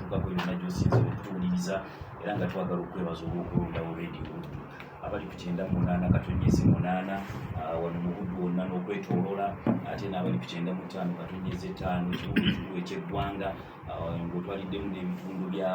okugako yonna gyosinza okutuwuliriza era nga twagala okwebaza olwokulondawo radio buddu abali ku kyenda munaana katonyezi munaana ah, wano mu buddu wonna n'okwetolola ate n'abali ku kyenda mutaano katonyezi etaano ekibuga ekikulu ekyeggwanga ah, ng'otwaliddemu n'ebitundu bya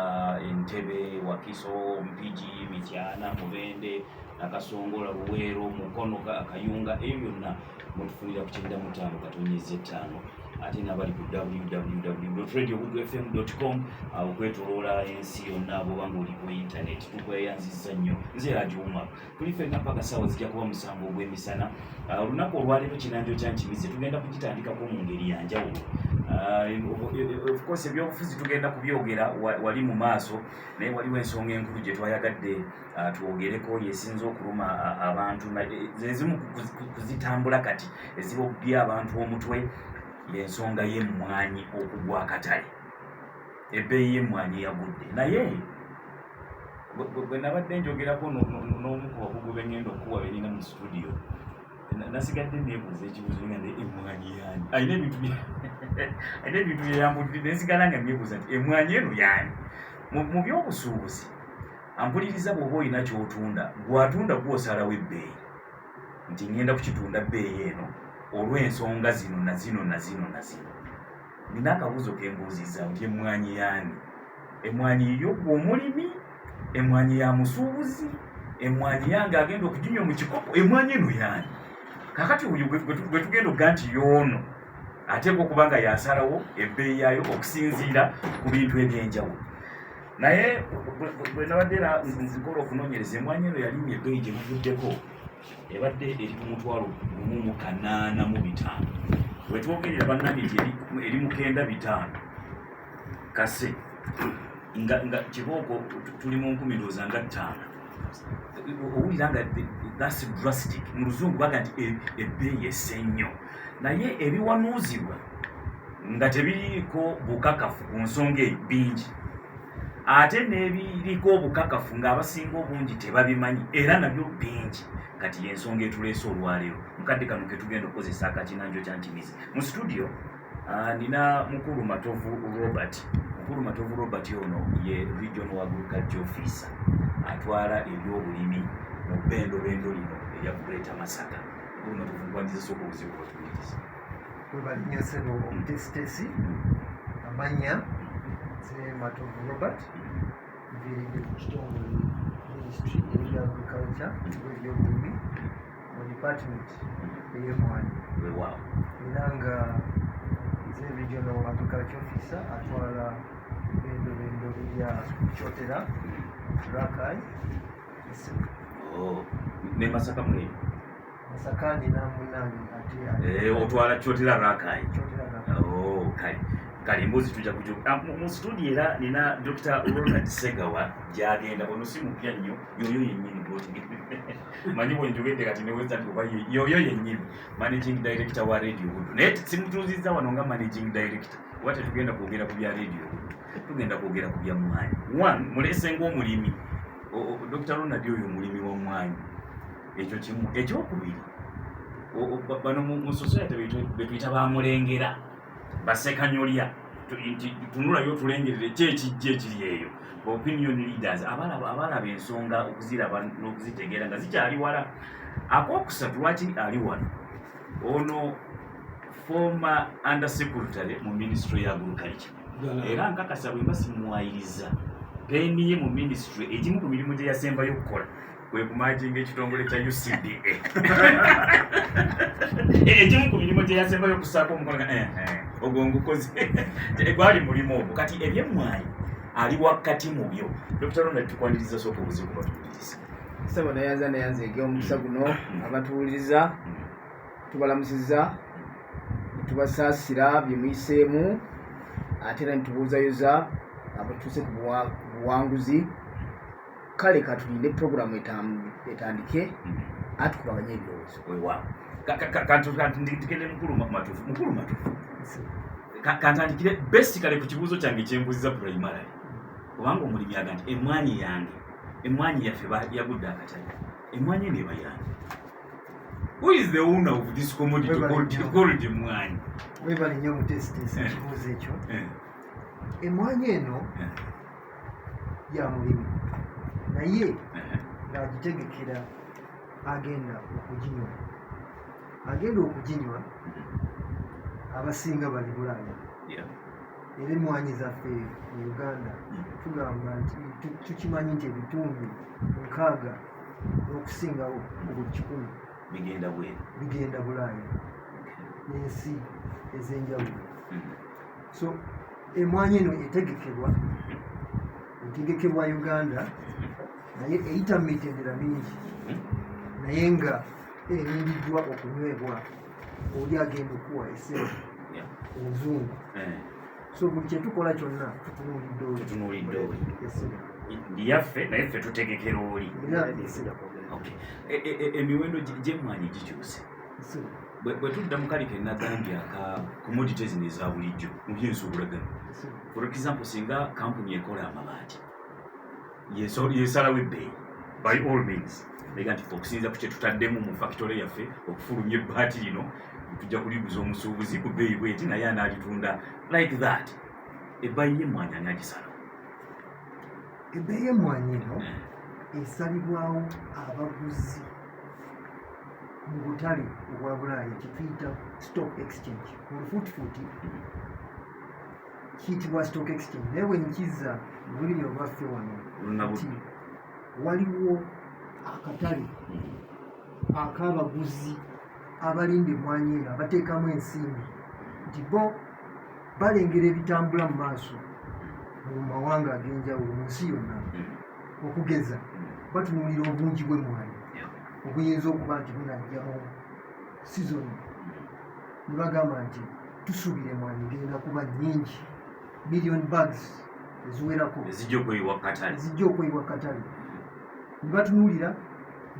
entebe wakiso mpigi mityana mubende nakasongola luweero mukono kayunga eyo yonna mutufunira ku kyenda mutaano katonyezi etaano ate nabali ku www.radiogugufm.com awo kwetoloola ensi yonna bwoba ngaoli ku intaneti tukweyanziza nnyo nze agiwuma tuli fenna paka saawa zijja kuba musango ogw'emisana ah, olunaku olwaleero kinanjo kyankimize tugenda kugitandikako mu ngeri yanjawulo ah, e, e, e, ofcourse ebyobufuzi tugenda kubyogera wali mu maaso naye waliwo ensonga enkulu gye twayagadde Ah, twogereko yesinza okuluma abantu zezimu kuzitambula kati eziba okubya abantu omutwe yensonga yemwanyi okugwa akatale ebbeeyi yemwanyi yagudde naye bwenabadde njogerako n'omu ku bakugu bengenda okukuwa benina mu situdiyo nasigadde nebuuza ekibuzo nga ne emwanyi yani alina ebintu alina ebintu byeyambudde nensigala nga nebuuza nti emwanyi eno yani mu byobusuubuzi ampuliriza bw'oba olina ky'otunda gw'atunda gw'osalawo ebbeeyi nti ŋŋenda kukitunda bbeeyi eno olw'ensonga zino na zino na zino na zino nina akabuuzo ke mbuuzizza nti emmwanyi yaani emmwanyi yiyo gwe omulimi emmwanyi ya musuubuzi emmwanyi yange agenda okuginywa mu kikopo emmwanyi eno yaani kakati oyo gwe tugenda okuga nti yoono ateekwa okuba nga yasalawo ebbeeyi yaayo okusinziira ku bintu eby'enjawulo naye bwe nabadde era nzikola okunonyereza emwanyi eno yalimye ebbeyi gye buvuddeko ebadde eri ku mutwalo gumu mu kanaana mu bitaano wetwogerera bannange nti eri mukenda bitaano kase nga kibooko tuli mu nkumi ndooza nga ttaano owulira nga thats drastic mu luzungu baga nti e, ebbeeyi ese nnyo naye ebiwanuuzibwa nga tebiriiko bukakafu ku nsonga eyo bingi ate n'ebiriko obukakafu ng'abasinga obungi tebabimanyi era nabyo bingi kati y'ensonga etuleese olwaleero mukadde kano ketugenda okukozesa akakinanjo kya ntimizi mu situdiyo Ah, nina mukulu matovu robert mukulu matovu robert ono ye region wa agriculture officer atwala ebyobulimi mu bendo bendo lino erya kuleta masaka mukulu matovu nkwandiza soka obuzibu bwatuwuliriza webalinyo sebo omutesitesi amanya ze matovu robert nviridde ku kitongole ministry eri agriculture ebyobulimi mu department ey'emwanyi weewaawo era nga nze regional agriculture officer atwala endobendo ya kyotera rakai oh, ne masaka mweyo masaka nina munange ate eh, otwala kyotera rakai oh, kale kale embuzi tujja kuju ah, mu studio era nina dr ronald segawa gyagenda ono si mupya nnyo yoyo yennyini goti manyi bwenjogedde kati newezati oba yoyo yennyini managing director wa radio budu naye simutuuzizza wano nga managing director oba tetugenda kwogera ku bya radio budu tugenda kwogera ku bya mwanyi one mulese ngaomulimi dr ronald oyo omulimi wa mwanyi ekyo kimu ekyokubiri bano mu society betuyita bamulengera basekanyolya tunulayo otulengerere ki ekijja ekiri eyo opinion leaders abalaba ensonga okuziraba n'okuzitegeera nga zikyali wala akokusatu lwaki ali wano ono former under secretary mu ministry ya agriculture era nkakasa bwemba simuwayiriza peni ye mu ministry egimu ku mirimu gye yasembayo okukola kwe kumajinga ekitongole kya UCDA ekimu ku mirimu gye yasembayo okusaako omukono eh, eh, ogwo ngukoze gwali mulimu ogwo kati ebyemmwayi ali wakati mu byo dr ronald tukwaniriza sooka obuzibu batuwuliriza sebo nayanza nayanza ege omukisa guno mm-hmm. abatuwuliriza mm-hmm. tubalamusiza mm-hmm. tubasaasira byemuyiseemu ate era nitubuuzayoza abatuuse ku buwanguzi kale katulinde programu etandike hmm. atukubaganya ebirowoozo wewaawo kantugende mukulu matufu mukulu matufu kantandikire besti kale ku kibuuzo kyange kyembuziza primarily kubanga omulimi aga nti emwanyi yange emwanyi yaffe yagudde akatale emwanyi eno eba yange who is the owner of this commodity called emwanyi webale nyo omutesitesi eh. ekibuuzo ekyo eh. emwanyi eno eh. ya mulimi naye ng'agitegekera agenda okuginywa agenda okuginywa mm-hmm. abasinga bali bulaaya era emwanyi zaffe mu uganda mm-hmm. tugamba nti tukimanyi nti ebitundu nkaaga n'okusingawo mu buli kikumi bigenda bweru bigenda bulaaya n'ensi ez'enjawulo mm-hmm. so Emwanyi eno etegekebwa etegekebwa Uganda naye eyita mu mitendera mingi naye nga erindiddwa okunywebwa oli agenda okuwa esebo enzungu eh. so buli kyetukola kyonna tutunuulidde oli esebo yaffe naye ffe tutegekera oli e, e, e, emiwendo gyemwanyi gikyuse bwe tudda mu kali kenagambye aka commodity zino eza bulijjo mu byensuubulagano for example singa kampuni ekola amabaati yesalawo ebbeeyi by all means ega nti okusinza ku kyetutaddemu mu fakitole yaffe okufulumya ebbaati lino tujja kuliguza omusuubuzi ku bbeeyi bweti naye anaalitunda like that ebbayi yemwanyi ani agisalawo ebbeeyi emwanyi eno eh. esalibwawo abaguzi mu butale obwa bulaaya kyetuyita stock exchange olufuutifuuti kiyitibwa stock exchange naye bwenkizza lulimi olwaffe wano nti waliwo akatale ak'abaguzi abalinda emwanyi eno abateekamu ensimbi nti bo balengera ebitambula mu maaso mu mawanga ag'enjawulo mu nsi yonna okugeza batunuulira obungi bw'emmwanyi obuyinza okuba nti bunajjamu sizoni ne bagamba nti tusuubira emmwanyi genda kuba nnyingi million bags eziwerako ezijja okweyibwa katale ne batunuulira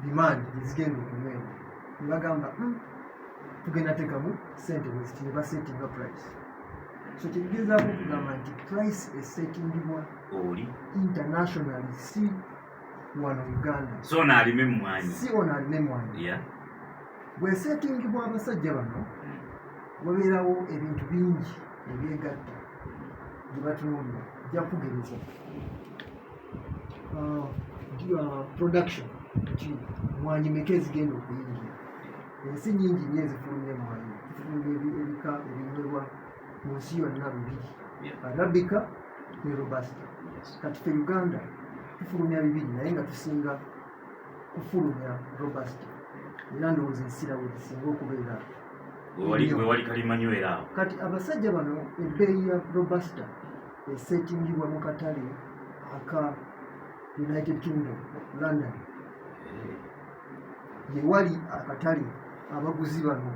dimandi ezigenda okunywebwa ne bagamba hmm, tugenda tekamu sente bweziti ne basetinga price so kyetugezaako okugamba nti price esetingibwa oli international si wano Uganda so ono alime mmwanyi si ono alime mmwanyi yeah. bwesetingibwa abasajja bano hmm. wabeerawo ebintu bingi ebyegatta gye batunuulira jakugereza uh, uh, production nti mwanyi meka ezigenda okuyingira ensi nyingi nyo ezifulumya mwanyi zifulumya ebika ebinywebwa mu nsi yonna bibiri arabika ne robasta kati fe uganda tufulumya bibiri naye nga tusinga kufulumya robasta era ndowooza ensira we zisinga okubeera wewali kalimanywera awo kati abasajja bano ebbeeyi ya robasta esetingibwa mu katale aka united kingdom london eh. gye wali akatale abaguzi bano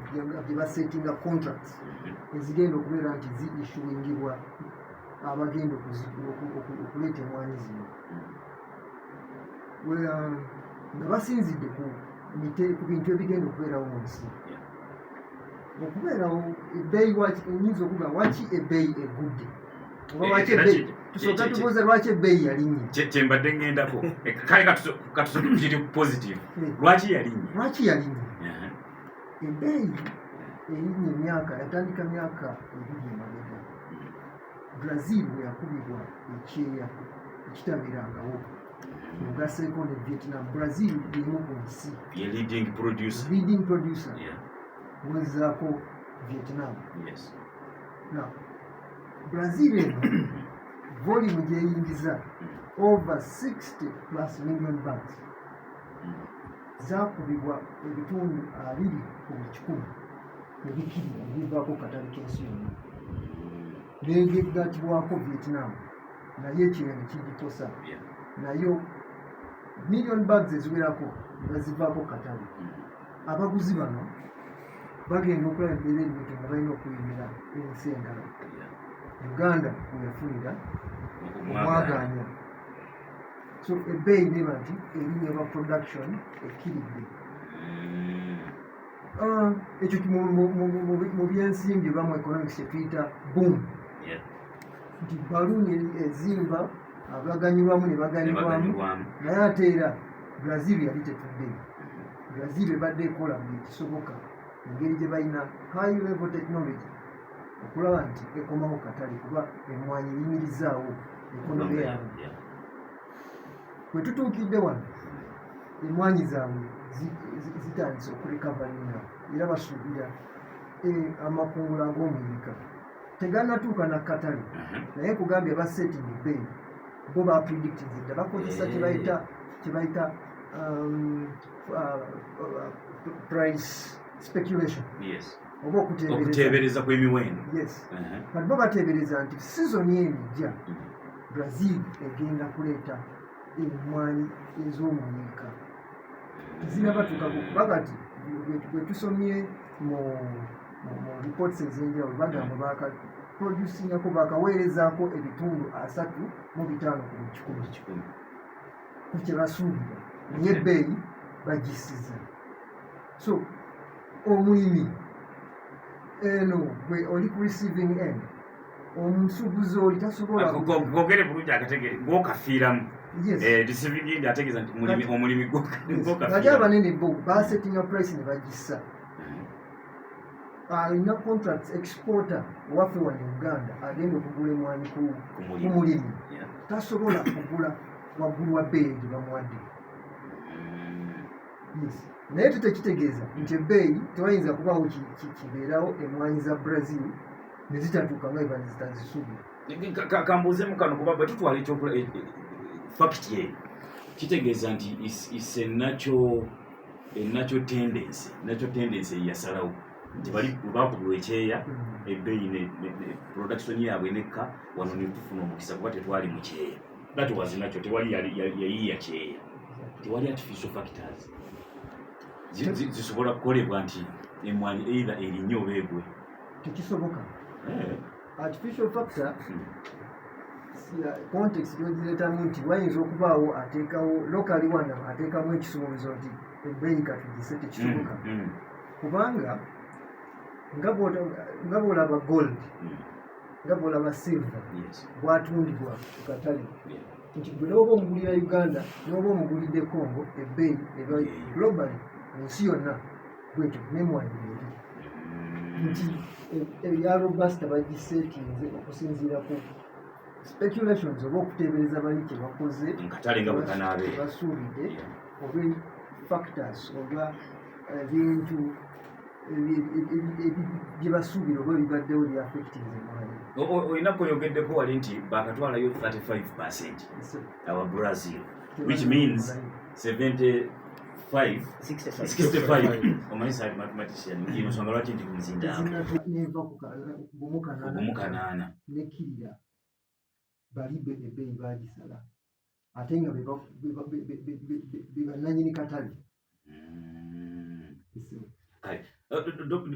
gye basetinga contracts mm-hmm. ezigenda okubeera nti zi issuingibwa abagenda okuleeta emwanyi zino mm-hmm. um, nga basinzidde ku bintu ebigenda okubeerawo mu nsi okubeerawo ebbeeyi waki nyinza okuga waki ebbeeyi egudde tusookatubuuza lwaki ebbeeyi yalinnye kyembadde ŋŋendako kale katusokiri positive hmm. lwaki yalinnye lwaki yalinnye ebbeeyi erinnye emyaka yatandika myaka ebiri emabega brazil bwe yakubibwa ekyeya ekitabeerangawo mugaseeko ne vietnam brazil erimu ku nsi leading producer kuwulizako vietnam yes. no. brazil eno volume gyeyingiza mm. over 60 plus million bugs mm. zakubibwa ebitundu abiri ku buli kikumi ebikiri ebivaako katale kensi yonna negegatibwako vietnam naye ekino nekigikosa nayo million bugs eziwerako nga zivaako katale mm. abaguzi bano bagenda okulaba embeera ennito nga balina okuyimira ensi endala uganda weyafunira omwaganya so ebbeeyi neba nti erinya ba production ekkiridde mm. ah, ekyo mu byensimbi oba mu economics kyetuyita boom nti baluuni ezimba abaganyirwamu ne baganyirwamu naye ate era brazil yali tetudde Brazil ebadde ekola buli kisoboka engeri gye balina high level technology okulaba nti ekomawo katale kuba emwanyi eyimirizaawo ekonomi yaabwe bwe tutuukidde wano emwanyi zaabwe zitandise okulikavalinga era basuubira eh, amakungula ag'omuyika teganatuuka na katale mhm. naye kugambye basetting bay bo bapredictinze dda bakozesa kyebayita eh. kyebayita oba okuteebereza kwemiwendo kati bo bateebereza nti sizoni eno ejja mm-hmm. brazil egenda kuleeta emmwanyi ez'omuyiika tezinabatuuka kukuba kati bwetusomye mu reports ezenjawulo bagamba baka producingako bakaweerezako ebitundu asatu mu bitaano ku kikumi kyebasuubira naye ebbeeyi bagisiza so omulimi eno gwe oli ku receiving end omusubuzi oli tasobolagogere bulungi akategere gwokafiiramu eh, receiving end ategeeza nti mulimi omulimi gwokafiiramu abanene bo basettinga price ne bagissa alina contract exporter waffe wano uganda agenda okugula emwanyi ku mulimi tasobola kugula waggulu wa bbeeyi gye bamuwadde mm. naye tutekitegeeza nti ebbeeyi tewayinza kubawo kibeerawo emwanyi za brazil nezitatuuka nga eba nezitazisubi kambuuzemu kano kuba bwe tutwala ekyokula e- e- e- fakiti eyo kitegeeza nti is a natural enakyo tendensi nakyo tendensi eyasalawo nti bali bakubulwa ekyeya ebbeeyi production yaabwe nekka wano netufuna omukisa kuba tetwali mu kyeya that was nakyo tewali yayiya kyeya tewali artificial factors zisobola kukolebwa nti emwanyi either erinye oba egwe tekisoboka eh. artificial factor context yogireetamu nti wayinza okubaawo ateekawo lokali wano ateekamu ekisuubizo nti ebbeeyi katugise tekisoboka mm, mm. kubanga nga bwolaba gold mm. nga bwolaba silver bwatundibwa ku katale nti gwe n'oba omugulira uganda n'oba omugulidde congo ebbeeyi eba global mu nsi yonna bwetyo nemwanyi eri nti eya eh, eh, robasta bagiseetinze okusinziira ku speculations oba okuteebereza bali kyebakoze basuubidde oba factors oba ebintu eh, byebasuubira oba bibaddewo byafectinolina kweyogeddeko wali nti bakatwalayo 35 percent awa brazil which means 75 omanyisalimathematicnsonga lwaki nti kumuzindaaogumukanaana bali ebbeeyi baagisala ate nga bebananyini katale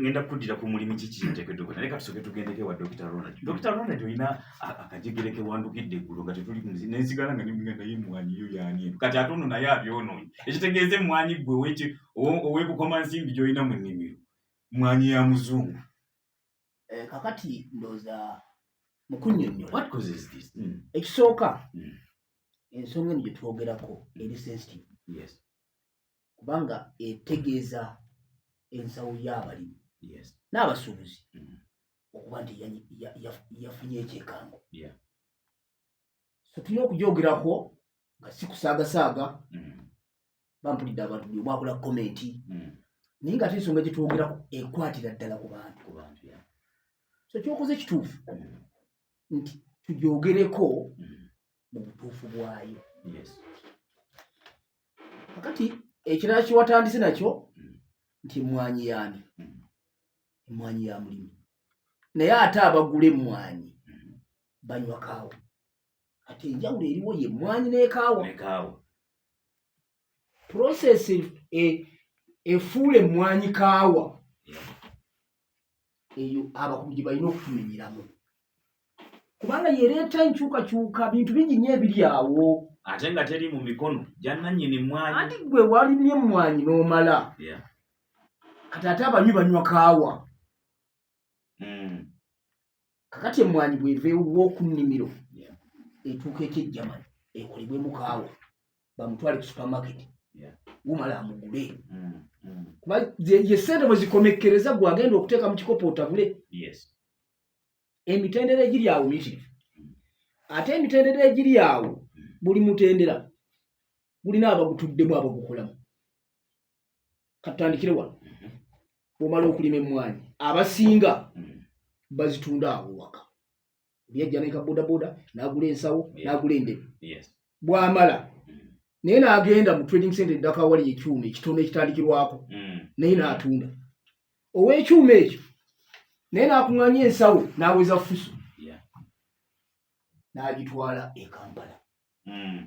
ngenda kuddira ku mulimu kikiteketoka naye katusoke tugendeko ewa dokita ronald dokita ronald olina akajegere kewandukidde eggulo nga tetuli nensigala nga nimuga naye emwanyi yo yani eno kati ate ono naye abyonoonyi ekitegeeza emwanyi gwe owekukoma nsimbi gyolina mu nnimiro mwanyi ya muzungu eh, kakati ndoza mu kunnyonnyola hmm. ekisooka hmm. ensonga eno gye twogerako eri sensitive kubanga etegeeza ensawo y'abalimi n'abasuubuzi hmm. okuba nti yafunye ekyekango so tulina okujogerako nga sikusaagasaaga mm. bampulidde abantu buli omwakola komenti mm. naye nga ate ensonga gyetwogerako ekwatira ddala ku bantu so kyokoze kituufu mm. nti tujogereko mu butuufu bwayo kakati ekirala kiwatandise nakyo nti emwanyi yaani emwanyi ya mulimi naye ate abagula emwanyi banywa kaawa kati enjawulo eriwo ye mwanyi nekaawa process e, efuula emwanyi kaawa eyo abakubi gye balina okutumenyeramu kubanga yereeta enkyukakyuka bintu bingi nyo ebiri awo ate nga teri mu mikono gyananyini mwanyi ati gwe walimye emwanyi n'omala kati ate abanywi banywa kaawa mm. kakati emwanyi bweveewuwa okunnimiro etuuka ekyejjamani ekolebwe mukaawa bamutwale ku supermarket wumala amugule mm, mm. kuba ye sente bwezikomekkereza gwe agenda okuteeka mu kikopo otabule emitendera egiri awo miyitirivu ate emitendera egiri awo buli mutendera gulina abagutuddemu abagukolamu katandikire wano bwomala okulima emmwanyi abasinga bazitunda awo waka yajja neka bodaboda nagula ensawo nagula endebe bwamala naye nagenda mu trading center eddaka wali ekyuma ekitono ekitandikirwako mm. naye natunda owekyuma ekyo naye nakuŋanya ensawo naweza fuso nagitwala ekampala mm.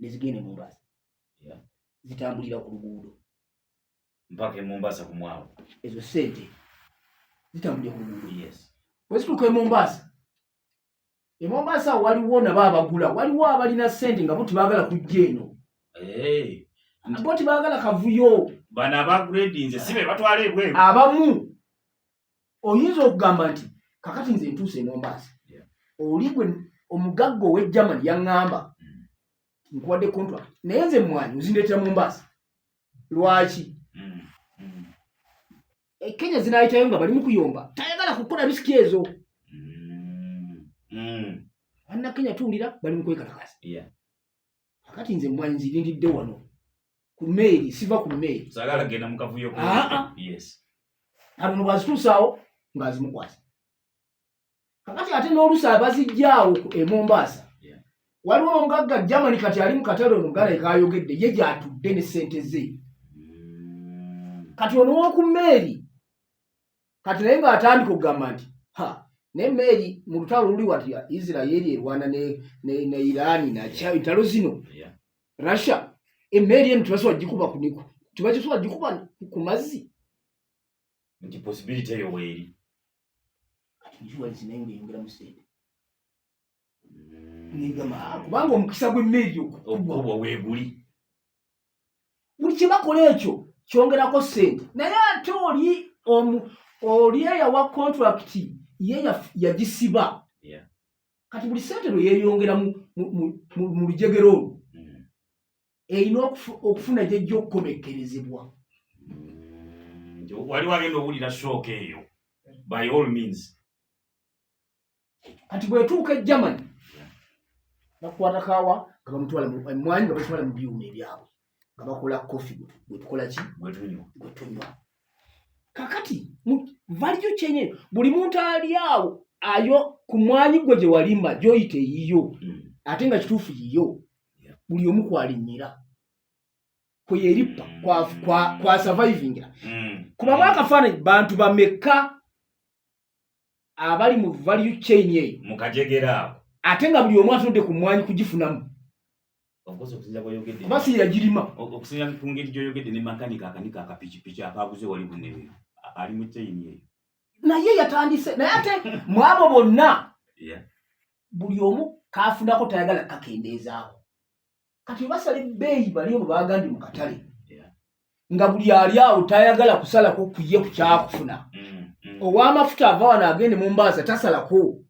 ne zigenda e Mombasa zitambulira ku luguudo mpaka e Mombasa ku mwalo, ezo sente zitambulira ku luguudo yes. Bwe zituuka e Mombasa e Mombasa waliwo nabo abagula, waliwo abalina sente nga bo tebagala kujja eno hey. Bo tebagala kavuyo, bano abagredinze si be batwala ebweru abamu oyinza okugamba nti kakati nze ntuuse emombaasi oli gwe omugagga owe german yaŋŋamba mm. nkuwadde contract naye nze mwanyi ozindeetera mu mbaasi lwaki mm. mm. e, kenya zinayitayo nga bali mukuyomba tayagala kukola risiki ezo anna kenya tuwulira bali mukwekalakasa akati nze mwanyi nzirindidde wano ku meeri siva ku meeri sagala genda mu kavuyo ko ah, ah. yes abo no bazitusawo ngazimukwasa kakati ate n'olusa abazijjaawo e Mombasa waliwo omugagga Germany kati ali mu katale ono gala ekayogedde ye gyatudde ne sente ze mm. kati ono woku meeri kati naye ng'atandika okugamba nti ha naye meeri mu lutalo luli wati isiraeri erwana ne iraani nakyabitalo zino russia emeeri eno tebasobola gikuba kuniku tebakisobola gikuba ku mazzi nti posibility eyo weeri mm. kubanga omukisa gw'emmeeri okukubwa weeguli buli kyebakola ekyo kyongerako sente naye ate oli omu oli eyawa contract ye yagisiba kati buli sente lwe yeyongera mu lujegero olwo mm. erina okufuna gyejja okukomekkerezebwa mm. waliwo agenda owulira shooka eyo by all means kati bwetuuka e germany bakukwata kawa nga bamutwala emwanyi nga batwala mu byuma ebyabwe nga bakola kofi gwetukola ki gwetunywa kakati valiyo kyenye buli muntu ali awo ayo ku mwanyi gwe gye walimba gyoyita eyiyo hmm. ate nga kituufu yiyo buli omu kwalinyira kweyerippa kwasavayivingira hmm. kubamu akafaananyi bantu bamekka abali mu value chain eyo mu kajegera ako ate nga buli omu atunudde ku mmwanyi kugifunamu kuba si yagirima okusinzira ku ngeri gy'oyogedde ne makanika akanika akapikipiki akaaguze wali bunewe ali mu chain eyo naye yatandise naye ate mwabo bonna buli omu kaafunako tayagala kakendeezaako kati obasala ebbeeyi bali obo bagandi mu katale nga buli ali awo tayagala kusalako kuye ku kyakufuna mm, mm. ow'amafuta ava wano agende mu mbaaza tasalako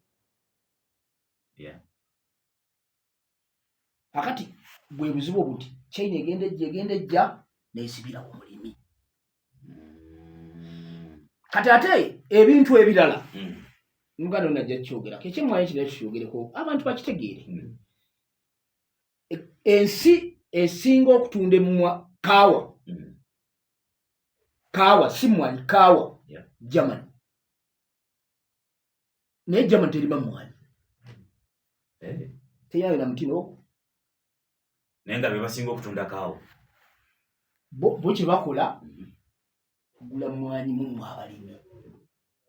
akati bwe buzibu obuti china egenda ejja egenda ejja nesibira ku mulimi mm. kati ate ebintu ebirala muganda onajja kukyogerako ekyemwayo kira kukyogereko abantu bakitegeere ensi esinga okutunda emumwa kaawa mm. kaawa si mwanyi kaawa germany naye germany terima mwanyi eh. teyalina mutino naye nga bebasinga okutunda kaawa bo kyebakola mm-hmm. mugula mwanyi mumwe abalimi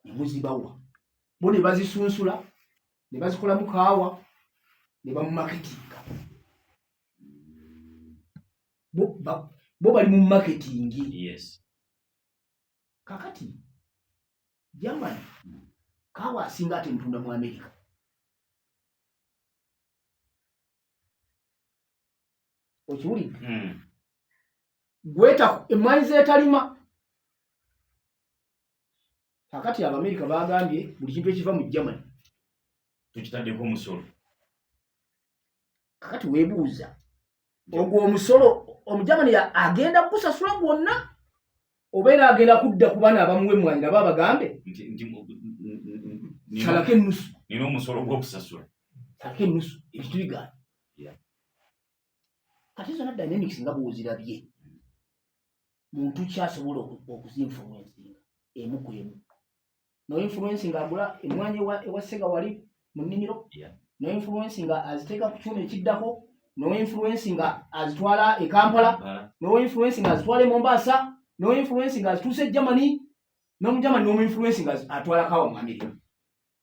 ne muzibawa bo ne bazisunsula ne bazikolamu kaawa ne bamumaketinga bo bali mu maketingi yes. kakati jamani kaawa asinga ate mutunda mu amerika okiwulidde hmm. gweta emwanyi zetalima kakati abamerika bagambye buli kintu ekiva mu germany tukitaddeko omusolo kakati webuuza ogwo omusolo omugermany agenda kukusasula gwonna oba era agenda kudda ku bana abamuwa emmwanyi nabo abagambe salako ennusu nina omusolo gwokusasula salako ennusu ebintu bigaana kati zona dynamics nga bwozirabye muntu kyasobola okuzinfumu ensinga emu ku emu no influence nga agula emwanyi wa ewa sega wali muniniro yeah. no influence nga aziteka kuchuna ekiddako no influence nga azitwala e Kampala yeah. no influence nga azitwala e Mombasa no influence nga azituse Germany no mjama no influence nga atwala kawa mu America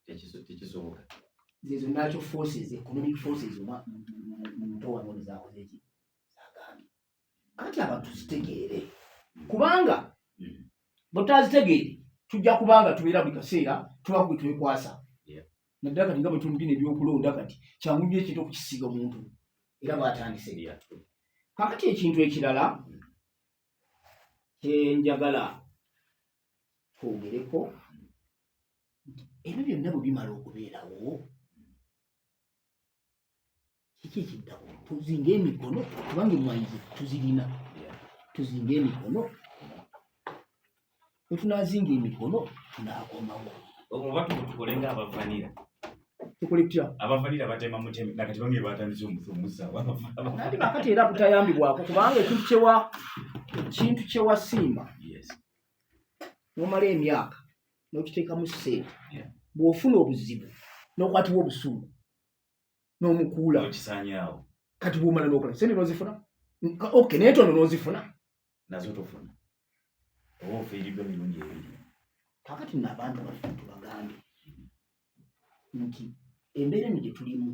ekizo ekizo nga zezo nacho forces economic forces ma mtoa ndio za kuzeti anti abantu zitegeere kubanga bwetutazitegeere tujja kubanga tubeera buli kaseera tuba kwe twekwasa naddala kati nga bwetumugina ebyokulonda kati kyangu nyo ekintu okukisiga omuntu era bwatandise kakati ekintu ekirala kyenjagala twogereko ebyo byonna bwe bimala okubeerawo kiki ekiddako tuzinga emikono kubanga emwanyi zetu tuzirina tuzinga emikono wetunazinga emikono tunakomawo oba tukole nga abavanira tukole tutya abavanira batema mutemi nakati bamwe batandise omusomusawaati bakati era kutayambibwako kubanga ekintu kyewa ekintu kyewasimba nomala emyaka n'okiteekamu ssente bw'ofuna obuzibu n'okwatibwa obusungu n'omukuula okisanyawo kati bwomala n'okola sente n'ozifuna ok naye tono n'ozifuna nazo tofuna oba ofiiriddwa mirundi ebiri kakati nno abantu baffe tubagambe nti embeera eno gye tulimu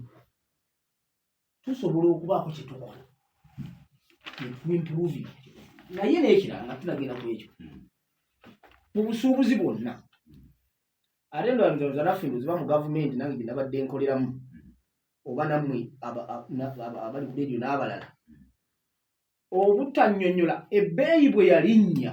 tusobola okubaako kye tukola improve naye n'ekirala nga tunagenda ku ekyo mu busuubuzi bwonna ate ndowazanaffe ndoziba mu gavumenti nange gye nabadde nkoleramu oba nammwe abali ku leediyo n'abalala obutanyonyola ebbeeyi bwe yalinnya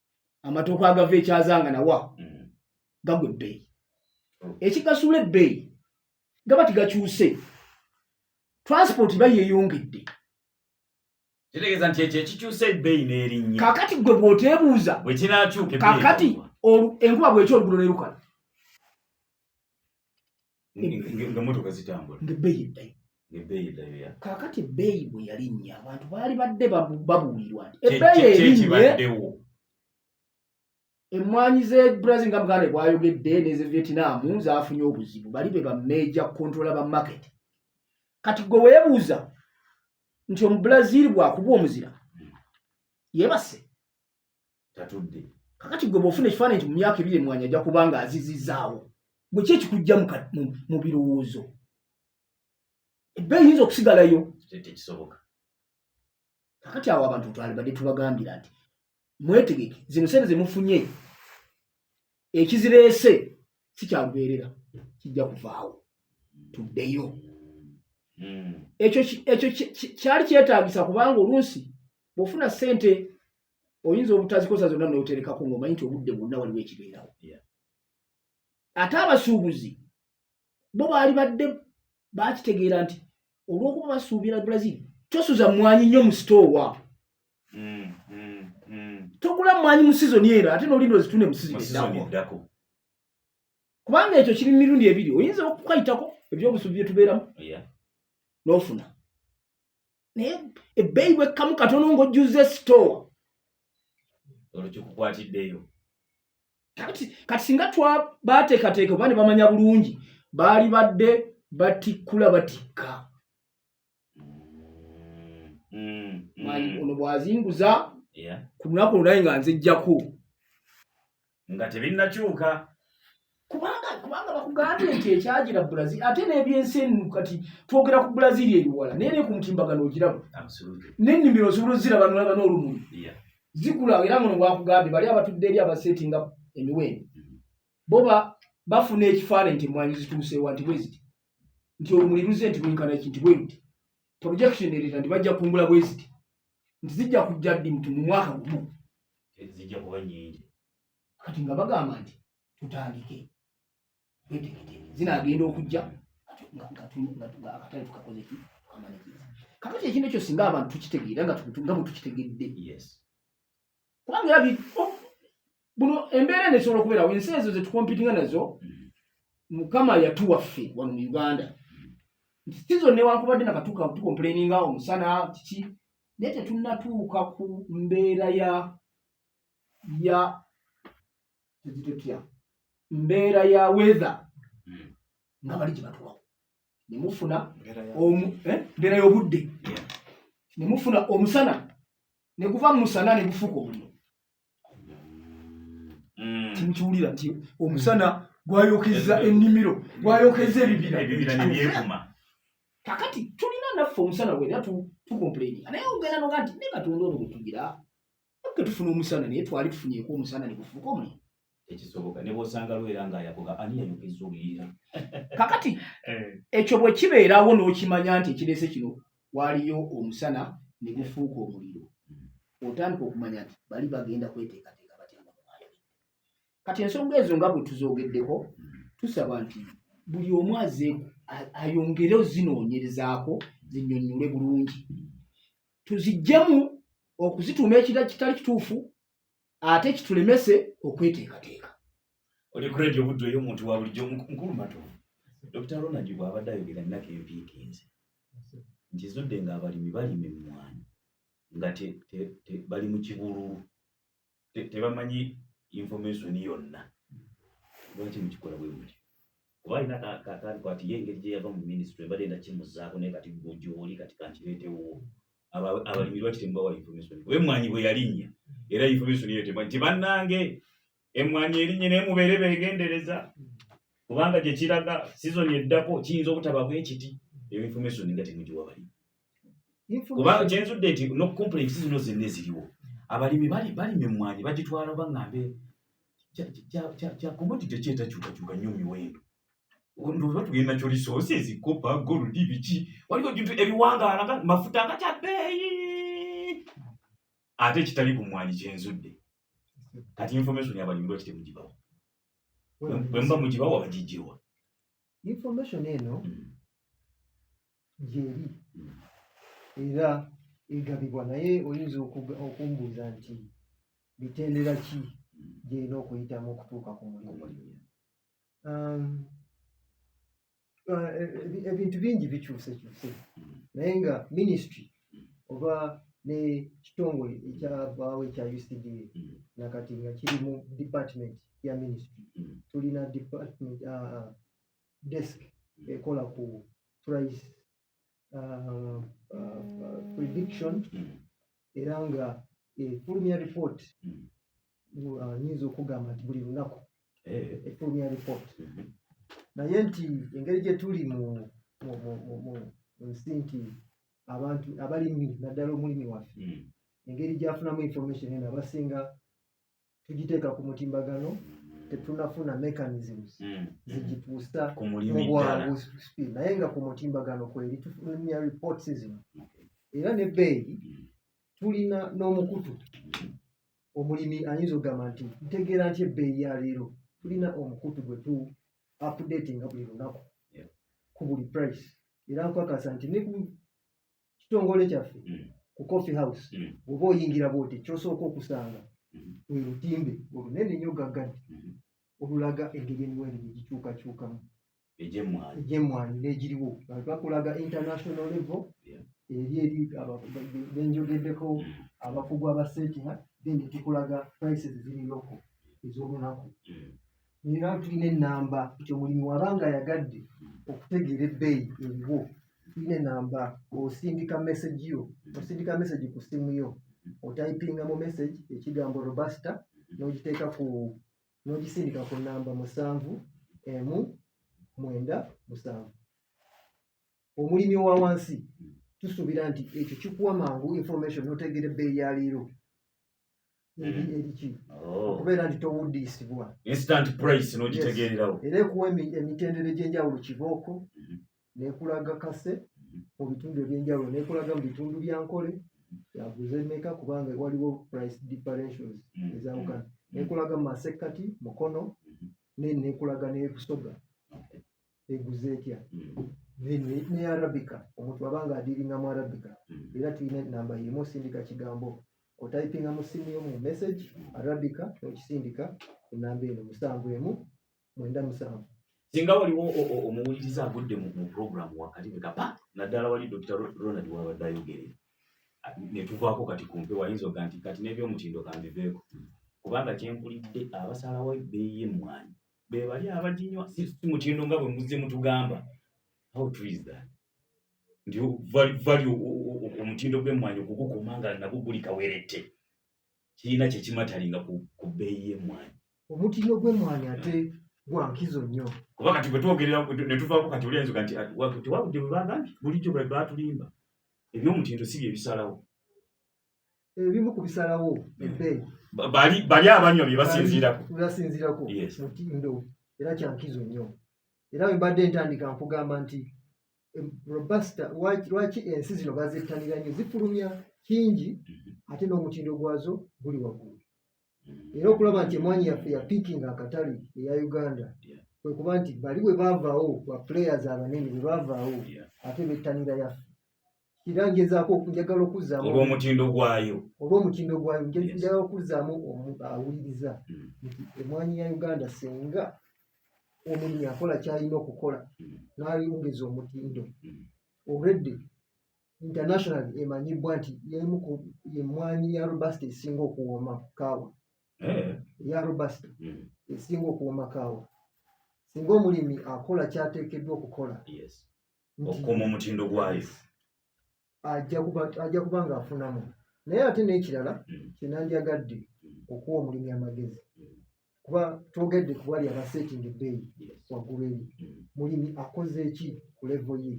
amatooke agava ekyazanga nawa mm. gagwa ebbeeyi oh. ekigasuula ebbeeyi gaba tigakyuse transport ba yeyongedde kitegeeza nti ekyo ekikyusa ebbeeyi n'erinnya kakati gwe bw'oteebuuza bwe kinaakyuka kakati enkuba bwekyo olugulo nerukala nga motoka zitambula nga ebbeeyi eddayo ebbeeyi eddayo ya kaakati ebbeeyi bwe yalinnya abantu baali badde babuulirwa nti ebbeeyi erinnye emmwanyi ze brazil nga muganda bwayogedde neze vietnam zafunye obuzibu bali be bameja controla ba market kati gwe weebuuza nti omubrazil bwakuba omuzira yebase tatudde kakati gwe bwofuna ekifaananyi nti mu myaka ebiri emwanya ajja kuba nga azizizaawo gwe ki ekikujja mu birowoozo ebbe eyinza okusigalayo tekisoboka kakati awo abantu twalibadde tubagambira nti mwetegeke zino sente zemufunye ekizireese si kyalubeerera kijja kuvaawo tuddeyo hmm. ekyo ekyo kyali kyetaagisa kubanga oluusi bwofuna sente oyinza obutazikosa zonna noterekako ngaomanyi nti obudde bwonna waliwo ekibeerawo ate abasuubuzi bo baali badde bakitegeera nti olwokuba basuubira brazil tosuza mwanyi nnyo mu sitoowa mm, mm, mm. tokula mwanyi mu sizoni ero ate nolinda ozitune mu sizoni eddako kubanga ekyo kiri mirundi ebiri oyinza okukayitako ebyobusuubi byetubeeramu nofuna naye ebbeeyi bwekkamu katono ng'ojjuza esitoowa olwo kikukwatiddeyo kati kati singa twa baateekateeka oba ne bamanya bulungi baali badde batikkula batikka mm, mm. ono bw'azinguza ku lunaku olulayi nga nzijjako nga tebinnakyuka kubanga kubanga bakugambye nti ekyagira brazil ate n'ebyensi enu kati twogera ku brazil ebiwala naye ne ku mutimbagano ogiraba n'ennimiro osobola oziraba nolaba n'olumuli zikula era muno bwakugambye bali abatudde eri abasetinga emiwendo mm-hmm. bo bafuna ekifaananyi nti emwanyi zituuseewa nti bweziti nti olumuli luze nti lwenkana ki nti bweruti projection ereta nti bajja kungula bweziti nti zijja kujja ddi mtu mu mwaka gumu zijja kuba nyingi kati nga bagamba nti tutandike wetegete zinagenda okujja akatale tukakozeki tukamanikiza kakati ekintu ekyo singa abantu tukitegeera nga bwetukitegedde kubanga era oh, buno embeera eno esobola okubeerawo ensi ezo zetukompitinga nazo mukama yatuwa ffe wano mu uganda sizo newankubadde nakatuka tukomplaininga omusana kiki naye tetunatuuka ku mbeera ya ya tuzitutya mbeera ya weather hmm. nga bali gye batuwawo ne mufuna mbeera eh, y'obudde ne mufuna omusana ne guva mu musana ne gufuuka omuliro mm. timukiwulira nti omusana gwayokezza ennimiro gwayokezza ebibira kakati tulina naffe omusana gwena tukomplaininga naye ogenda noga nti ne katonda ono gwetugira ke tufuna omusana naye twali tufunyeko omusana ne gufuuka omuliro tekisoboka ne bwosanga lwera nga yakoga ani yayogeza oluyiira kakati eh. ekyo bwe kibeerawo n'okimanya nti ekireese kino waaliyo omusana ne gufuuka omuliro otandika okumanya nti bali bagenda kweteekateeka batya nga bwayogedde kati ensonga ezo nga bwe tuzoogeddeko tusaba nti buli omu aze ayongere ozinoonyerezaako zinyonnyole bulungi tuzijjemu okuzituuma ekira kitali kituufu ate kitulemese okweteekateeka oli kuredi obuddu eyo omuntu wa bulijjo mukulu matovu dr ronald bw'abadde ayogera nnaka empiikinzi nkizudde ng'abalimi balima emmwanyi nga bali mu kibululu tebamanyi information yonna lwaki mukikola bwe muli kuba alina kakaali kwati ye engeri gyeyava mu minisitule mbadde nda kimuzaako naye kati gwe gyoli kati kankireetewo abalimi lwaki temubawa information kuba emmwanyi bwe yalinnya era information eyo temwa nti bannange emmwanyi erinnye naye mubeere beegendereza kubanga gye kiraga sizoni eddako kiyinza obutaba bwekiti eyo information nga temugiwa balimi kubanga kyenzudde nti no complaint zino zenna eziriwo abalimi balima emmwanyi bagitwala oba ngambe kya commodity ekyetakyukakyuka nnyo miwendo ndoza tugenda kyo resources kopa gold biki waliwo bintu ebiwangaala nga mafuta nga kya bbeeyi ate ekitali ku mwanyi kyenzudde kati information yabalimi lwaki temugibawa bwemuba mugibawa bagijjewa information eno hmm. gyeri hmm. era egabibwa naye oyinza okumbuuza nti bitendera ki hmm. gyerina okuyitamu okutuuka ku mulimu um, uh, e, e, ebintu bingi bikyuse kyuse hmm. naye nga ministry oba nekitongole ekyabaawo ekya ucda nakati nga kiri mu department ya ministry tulina department uh, uh, desk ekola ku price uh, uh, uh, prediction era nga efulumya report nyinza okugamba nti buli lunaku eh. efulumya report mm-hmm. naye nti engeri gyetuli mu nsi nti abantu abalimi naddala omulimi waffe mm. engeri gyafunamu information eno abasinga tugiteeka ku mutimbagano tetunafuna mechanisms hmm. zigituusa mubwangu speed naye nga ku mutimbagano kweri tufulumya reports zino era ne bbeeyi hmm. tulina n'omukutu hmm. omulimi ayinza okugamba nti ntegeera nti ebbeeyi ya leero tulina omukutu gwe tu updatinga buli lunaku ku buli price era nkwakasa nti ne kitongole kyaffe mm. ku coffee house mm. oba oyingira bwoti kyosooka okusanga mm-hmm. lwe lutimbe olunene nnyo gaggadi mm-hmm. olulaga engeri emiwendo gye gikyukakyukamu egyemmwanyi n'egiriwo bakulaga international level eri eri benjogeddeko mm. abakugu abaseetinga then tukulaga prices ziri loko ez'olunaku naye nga tulina enamba nti omulimi waba nga ayagadde okutegeera ebbeeyi eriwo tulina enamba osindika message yo osindika message ku simu yo otayipinga mu message ekigambo robusta n'ogiteeka ku n'ogisindika ku namba musanvu emu mwenda musanvu omulimi owa wansi tusuubira nti ekyo kikuwa mangu information notegeera ebbeeyi ya leero okubeera nti towuddiisibwa instant price n'ogitegeererawo era ekuwa emitendera egy'enjawulo kibooko mhm. nekulaga kase mhm. mu bitundu eby'enjawulo nekulaga mu bitundu bya nkole yaguze meka kubanga waliwo price differentials mhm. ezawukana nekulaga mu masekkati mukono nekulaga nebusoga eguze etya mm. ne arabica omuntu aba nga adiringa mu arabica mm. era tulina enamba yemu osindika kigambo otayipinga mu simu yomu message arabica nokisindika enamba eno musanvu emu mwenda musanvu singa waliwo omuwuliriza agudde mu programu wakati nekapa naddala wali dr ronald wabadde ayogerera netuvaako kati kumpe wayinza oga nti kati nebyomutindo kambiveeko mm. kubanga kyenkulidde abasalawo ebeeyi emwanyi be bali abaginywa si mutindo nga bwe muzze mutugamba how true is that nti vali omutindo gw'emmwanyi okugukuma nga nabwo guli kawerette kirina kye kimatalinga ku bbeeyi y'emmwanyi omutindo gw'emmwanyi ate gwa nkizo nnyo kuba kati bwe twogerera ne tuvaako kati oli ayinza nti tewabudde bwe bagambye bulijjo bwe batulimba eby'omutindo si bye bisalawo ebimu ku bisalawo ebbeeyi bali bali abanywa bye basinziirako bye basinziirako mutindo era kyankizo nnyo era bwe mbadde ntandika nkugamba nti robusta lwaki ensi zino bazettanira nnyo zifulumya kingi mhm. ate n'omutindo gwazo guli waggulu mhm. era okulaba nti emwanyi yaffe ya pikinga akatale eya uganda kwe kuba nti bali bwe bavaawo ba players abanene bwe bavaawo ate bettanira yaffe era ngezaako njagala okuzzaamu olw'omutindo gwayo olw'omutindo gwayo njagala okuzzaamu awuliriza hmm. nti emwanyi ya uganda senga omulimi akola kyalina okukola hmm. n'ayongeza omutindo hmm. already international emanyibwa nti yemu ku yemwanyi ya robust esinga okuwooma kaawa eh. ya robust esinga okuwooma kaawa singa omulimi akola kyateekeddwa okukola okukuuma omutindo gwayo ajja kuba ng'afunamu naye ate n'ekirala mm. kyenandyagadde mm. okuwa omulimi amagezi mm. kuba twogedde ku bwali abasetting ebbeeyi waggulu eri mulimi akoze eki ku levo ye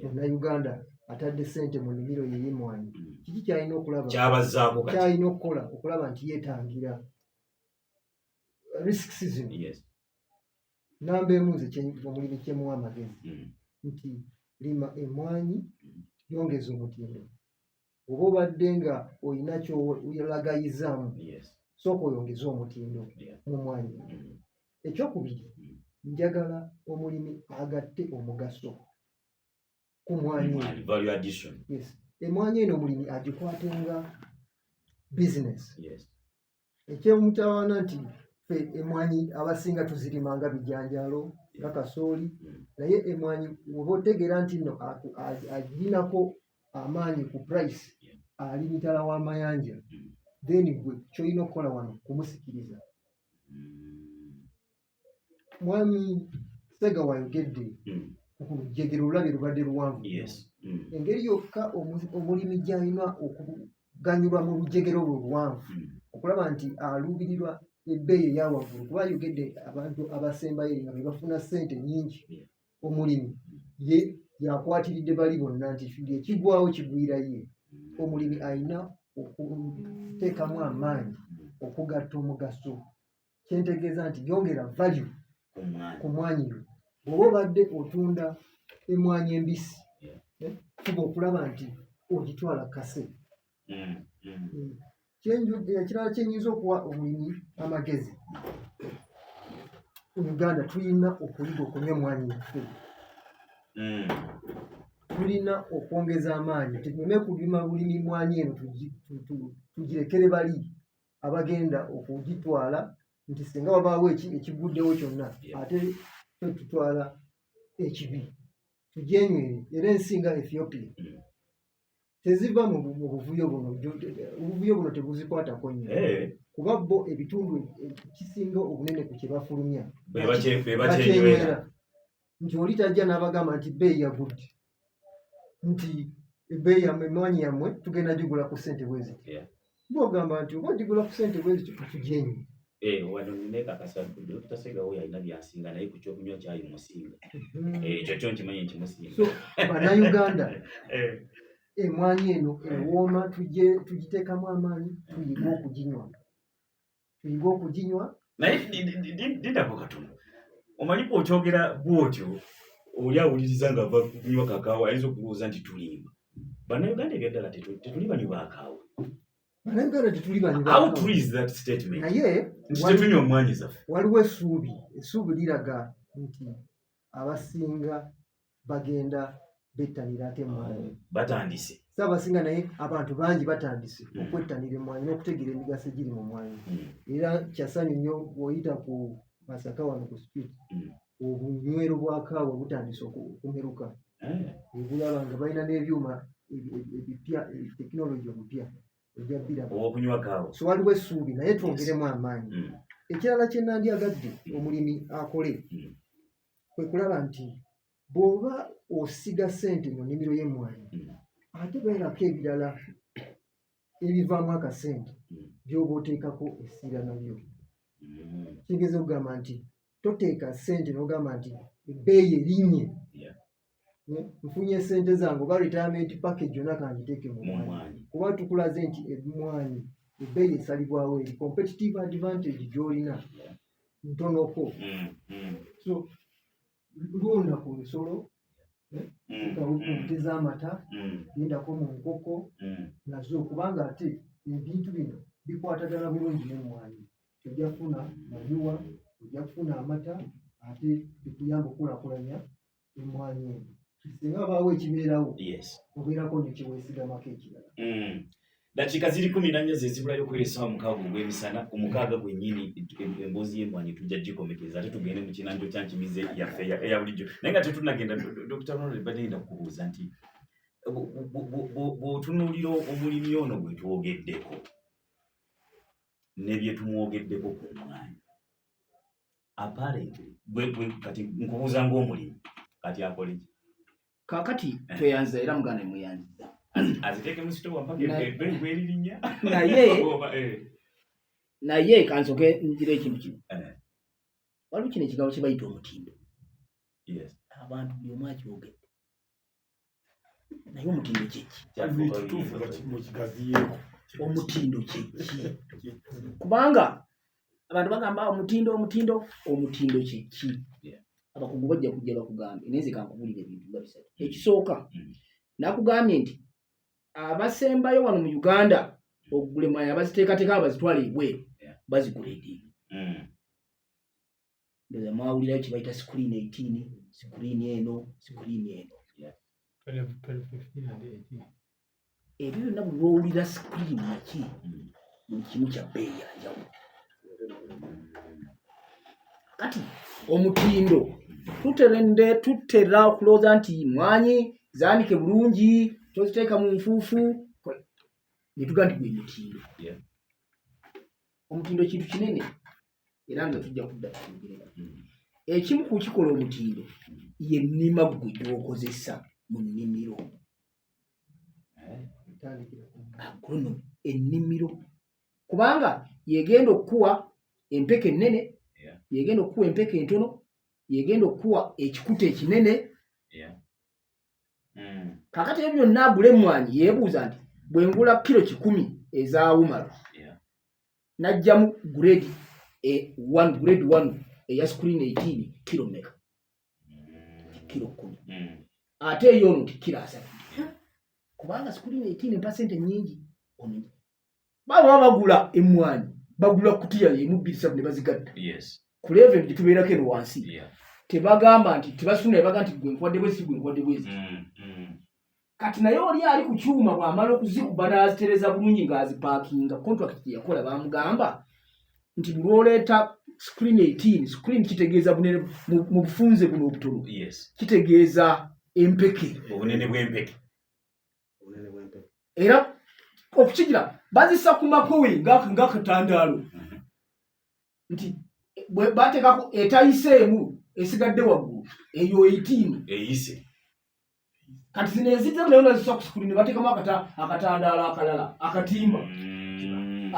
munauganda atadde sente mu nimiro yeyemwanyi kiki kyalina okulabakyalina okukola okulaba nti yetangira risks zino namba emu nze omulimi kyemuwa amagezi mm. nti lima emwanyi mm. yongeza omutindo oba obadde nga olina kyolagayizaamu sooka oyongeze omutindo mu mwanyi mm. ekyokubiri njagala omulimi agatte omugaso ku mwanyi yes. emwanyi eno omulimi agikwatenga business yes. ekyomutawaana nti fe emwanyi abasinga tuzirima nga bijanjalo nga kasooli mm. naye emwanyi woba otegeera nti no agirinako amaanyi ku price ali mitala w'amayanja mm. then gwe kyolina okukola wano kumusikiriza mm. mwami sega wayogedde mm. ku lujjegero olulabye lubadde luwanvu mm. engeri yokka omulimi gyalina okuganyulwa mu lujjegero olwo luwanvu mm. okulaba nti aluubirirwa ebbeeyi eyawaggulu kuba ayogedde abantu abasembayo nga bebafuna ssente nyingi omulimi ye yakwatiridde bali bonna nti ekigwawo kigwira ye omulimi alina okuteekamu amaanyi okugatta omugaso kyentegeeza nti yongera value ku mwanyi yo bwoba obadde otunda emwanyi embisi eh, fuba okulaba nti ogitwala kase mm, mm. Mm. ekirala eh, kyenyinza okuwa omulimi amagezi uganda tulina okuyiga okunywa emwanyi yaffe tulina okwongeza amaanyi tugume kulima bulimi mwanyi eno tugirekere bali abagenda okugitwala nti singa wabaawo ekiguddewo kyonna ate fe tutwala ekibi tujenywere era ensi nga ethiopia mm. teziva mu buvuyo buno obuvuyo buno tebuzikwatako nnyo eh. kuba bo ebitundu ekisinga obunene ku kyebafulumya bebakyenywera nti oli tajja n'abagamba nti bbeeyi yagudde nti ebbeeyi yamwe emwanyi yammwe tugenda gigula ku ssente bweziti yeah. bogamba nti oba gigula ku ssente bweziti katugyenyi eh, wano ninekakasatasegao yalina byasinga naye ku kyokunywa kyayi musinga mm-hmm. eh, ekyo kyo nkimanyi nti musinga banauganda eh. emwanyi eno ewooma tugitekamu amaanyi tuyiga okuginywa tuyinga okuginywa naye dindako katono omanyi bwokyogera bwotyo oli awuliriza nga va kunywa kakaawa ayinza okulowooza nti tulimba bannayuganda ebyaddala tetuli banywi bakaawa bannayuganda tetuli banynaye nti tetunywa omwanyi zaffe waliwo essuubi essuubi liraga nti abasinga bagenda bettanira ate emwanyi mm, batandise saabasinga naye abantu bangi batandise mm. okwettanira emwanyi n'okutegeera emigaso egiri mu mwanyi mm. era kyasanyu nnyo oyita ku masaka wano ku street obunywero bwa kaawa butandise okumeruka eh. obulaba nga balina n'ebyuma ebipya tekinologi omupya ojja biraba okunywa kaawa so waliwo essuubi naye twongeremu amaanyi ekirala kye nandyagadde omulimi akole kwe kulaba nti bw'oba osiga ssente mu nnimiro y'emmwanyi mm. ate beerako ebirala ebivaamu akasente mm. by'oba oteekako essira nabyo mm. kigeza okugamba nti toteeka ssente n'ogamba nti ebbeeyi erinnye nfunye sente zange oba retirement package yona kangiteeke mu mwanyi kuba tukulaze nti emwanyi ebbeeyi esalibwawo eri competitive advantage gyolina ntonoko mm, mm. so lunda ku nsolo eh, mm, kaute z'amata yendako mu nkoko nazo kubanga ate ebintu bino bikwatagana bulungi nemwanyi ojja kufuna manyuwa ojja kufuna amata ate bikuyamba okukulakulanya emmwanyi eno singa abaawo ekibeerawo obeerako nekyeweesigamako ekirala mm. dakiika ziri kumi nannya zezibulayo okuweresawo mukaaga ogw'emisana ku mukaaga gwennyini emboozi y'emmwanyi tujja gikomekeza ate tugende mu kinanjo kya nkimize yaffe eya bulijjo naye nga tetunagenda dr ronald badde ngenda kukubuuza nti bw'otunuulira omulimi ono gwe twogeddeko ne bye tumwogeddeko ku mmwanyi apparently gwe gwe kati nkubuuza ng'omulimi kati akole ki kakati eh. tweyanza era muganda emuyanziza aziteeke mu sitowa mpaka ebwelirinya naye eh. naye kansoke njira ekintu kino eh. waliwo kino ekigambo kye bayita omutindo abantu buli omu akyogedde naye omutindo kyeki omutindo kyeki kubanga abantu bagamba ah, omutindo omutindo omutindo kyeki abakugu bajja kujja bakugambye naye nze kankubulira ebintu nga bisatu mm. ekisooka mm. nakugambye nti abasembayo wano mu uganda okugula emwayi abaziteekateeka abazitwala ebweru bazigula edini mm. ndoza mwawulira kye bayita screen 18 screen eno screen eno ebyo byonna bwe bowulira screen ki buli kimu kya bbeeyi ya njawulo kati omutindo tuterende tutera okulooza nti mwanyi zaanike bulungi toziteeka mu nfuufu ne tugaa nti gwe mutindo omutindo kintu kinene era nga tujja kudda tuyogerera hmm. ekimu ku kikola omutindo yennima ggwe gyokozesa mu nnimiro eh? agrono ennimiro kubanga yegenda okukuwa empeke ennene yegenda okukuwa empeke entono yegenda okukuwa ekikuta ekinene hmm. kakati ebyo byonna agula emmwanyi yeebuuza nti bwengula kiro kikumi ezaawumalo najjamu grade e one grade one eya screen eighteen kiro meka kiro kumi hmm. ate eyo ono nti kiro asatu kubanga screen eighteen mpa sente nyingi omenye baba bagula emwanyi bagula kutiya yemu bbiri satu ne bazigatta yes. ku level gye tubeerako eno wansi yeah. tebagamba nti tebasuna ebaga nti gwe nkuwadde bwezi si gwe nkuwadde bwezi mm, mm. kati naye oli ali ku kyuma bwamala okuzikuba n'azitereza bulungi ng'azipaakinga contract gye yakola bamugamba nti bulwoleeta screen 18 screen kitegeeza bunene mu bufunze buno obutono kitegeeza empeke obunene bw'empeke era okukigira bazisa ku makowe ng'akatandaalo mhm. nti bateekako etayiseemu esigadde waggulu eyo 18 eyise kati zino ezidde nayo nazisa ku sukuli ne bateekamu akatandaalo akalala akatimba mm.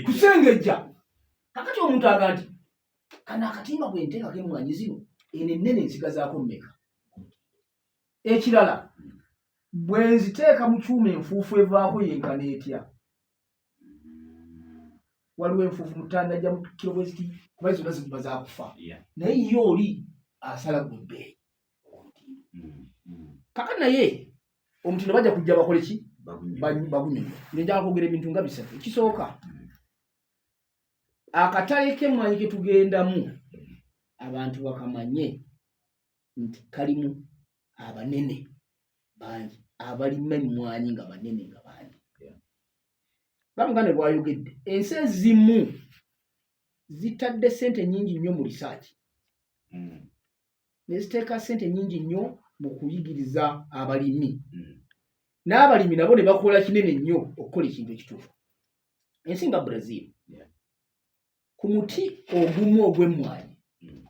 kusengejja kakati omuntu aga nti kano akatimba bwe nteekako emwanyi zino eno ennene nsigazaako mmeka ekirala bwe nziteeka mu kyuma enfuufu evaako yenkana etya waliwo enfuufu mutanda ja mukiro bweziti kuba zonna ziguma zakufa naye ye oli asala gwe bbeeyi mm, mm. kaka naye omutindo bajja kujja bakole ki bagunyonyo nenjala kwogera ebintu nga bisatu ekisooka mm. akatale kemwanyi ketugendamu abantu bakamanye nti kalimu abanene bangi abalima emmwanyi nga banene nga bangi bamuganda bwayogedde ensi ezimu zitadde sente nyingi nnyo mu risaaki hmm. neziteeka sente nyingi nnyo mu kuyigiriza abalimi hmm. n'abalimi nabo ne bakola kinene nnyo okukola ekintu ekituufu ensi nga brazil ku muti ogumu ogw'emmwanyi mm.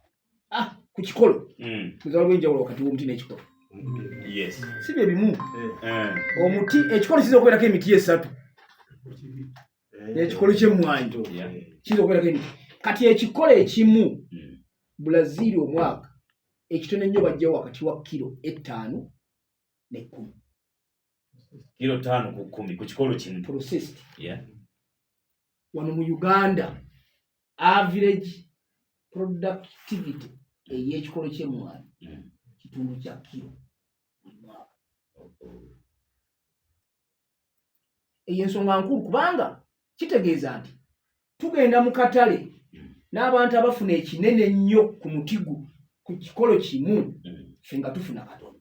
ah, ku kikolo mm. muzala lwenjawulo wakati w'omuti n'ekikolo si bye bimu eh. Eh. omuti ekikolo kiyinza okubeerako emiti esatu eh. ekikolo ky'emmwanyi kiyinza okubeerako emiti kati ekikolo ekimu mm. bulaziiri omwaka ekitono ennyo bajjawo wakati wa kiro ettaano n'ekkumi kilo tano ku kumi ku kikolo kimu processed yeah. wano mu uganda average productivity ey'ekikolo ky'emmwanyi mm. kitundu kya kilo buli mwaka eyo ensonga nkulu kubanga kitegeeza nti tugenda mu katale mm. n'abantu abafuna ekinene ennyo ku mutigu ku kikolo kimu mm. ffe nga tufuna katono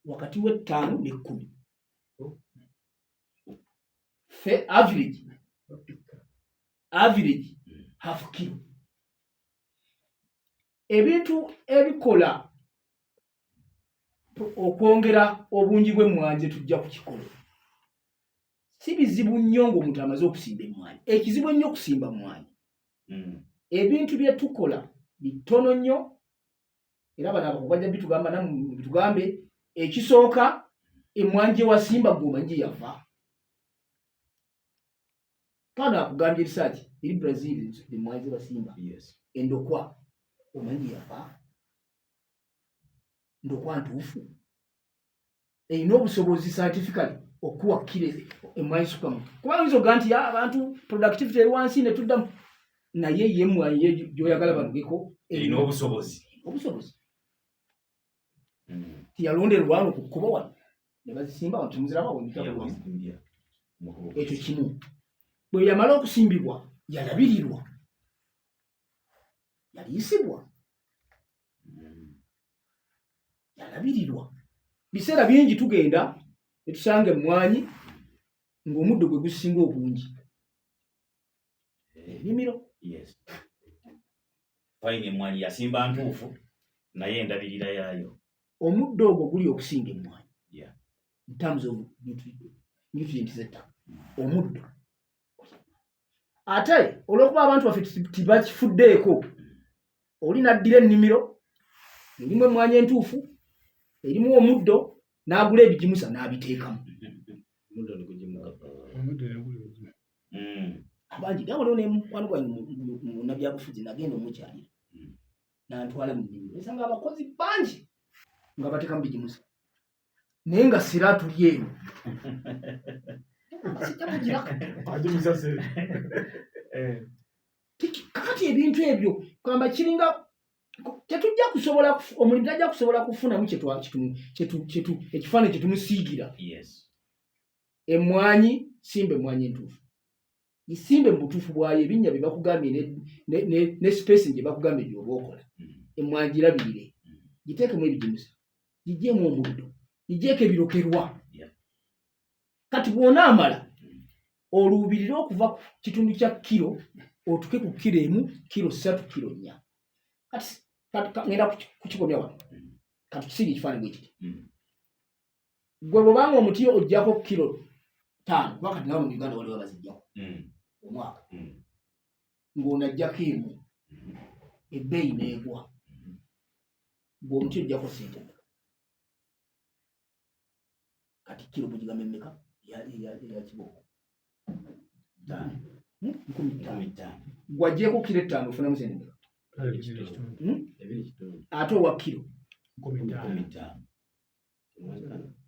wakati w'ettaano n'ekkumi oh. fe average average half kilo ebintu ebikola okwongera obungi bw'emmwanyi ze tujja kukikola si bizibu nnyo ng'omuntu amaze okusimba emmwanyi ekizibu ennyo okusimba mmwanyi hmm. ebintu bye tukola bitono nnyo era bano abako bajja bitugamba namu bitugambe ekisooka emwanje wasimba gwomanyi yava kano akugambye erisaki eri brazil emwanje wasimba endokwa omanyi yava ndokwa ntuufu erina obusobozi scientifically okuwa kire emwayisukamu kuba yinza oga nti abantu productivity eri wansi netuddamu naye ye mwayi ye gyoyagala balugeko erina obusobozi obusobozi hmm. tiyalonderwano ku kkubo wano ne bazisimba wano temuzirabawo ekyo kimu bwe yamala okusimbibwa yalabirirwa yaliisibwa yalabirirwa biseera bingi tugenda netusanga emmwanyi ng'omuddo gwe gusinga obungi enimiro fayina emmwanyi yasimba ntuufu naye endabirira yaayo omuddo ogwo guli okusinga emmwanyi in terms of nutrients zettaka omuddo ate olwokuba abantu baffe tibakifuddeeko oli naddira ennimiro erimu emwanya entuufu erimu omuddo n'agula ebigimusa n'abiteekamu abangi nawe leo nemukwano gwange munabyabufuzi nagenda omukyalira nantwala mu nnimiro esanga abakozi bangi nga batekamu bigimusa naye nga sira atuli eyo eh. kakati ebintu ebyo kwamba kiringa tetujja kusobola omulimu tajja kusobola kufunamu ekifaananyi kyetumusiigira emwanyi simba emwanyi entuufu isimbe mu butuufu bwayo ebinnya bye bakugambye ne, ne, ne, ne spacing gye bakugambye byoba okola mm. emwagirabirire mm. giteekemu ebigimusa gigyemu omuddo gigyeko ebirokerwa kati bwonaamala mm. oluubirire okuva ku kitundu kya kiro otuke ku kiro emu kiro satu kiro nnya kati ngenda kukikomya wano kati tusiga ekifaananyi bwekiti gwe bwobanga omuti ojjako kilo taano kuba kati nawe mu uganda waliwo abazijjako hmm. omwaka hmm. ng'onajjako emu hmm. ebbeeyi neegwa gwe omuti ojjako sente meka kati kilo mugigambe meka yakibooko taano nkumi taano gwajjeko kilo ettaano ofunamu sente meka ate owa kilo nkumi taano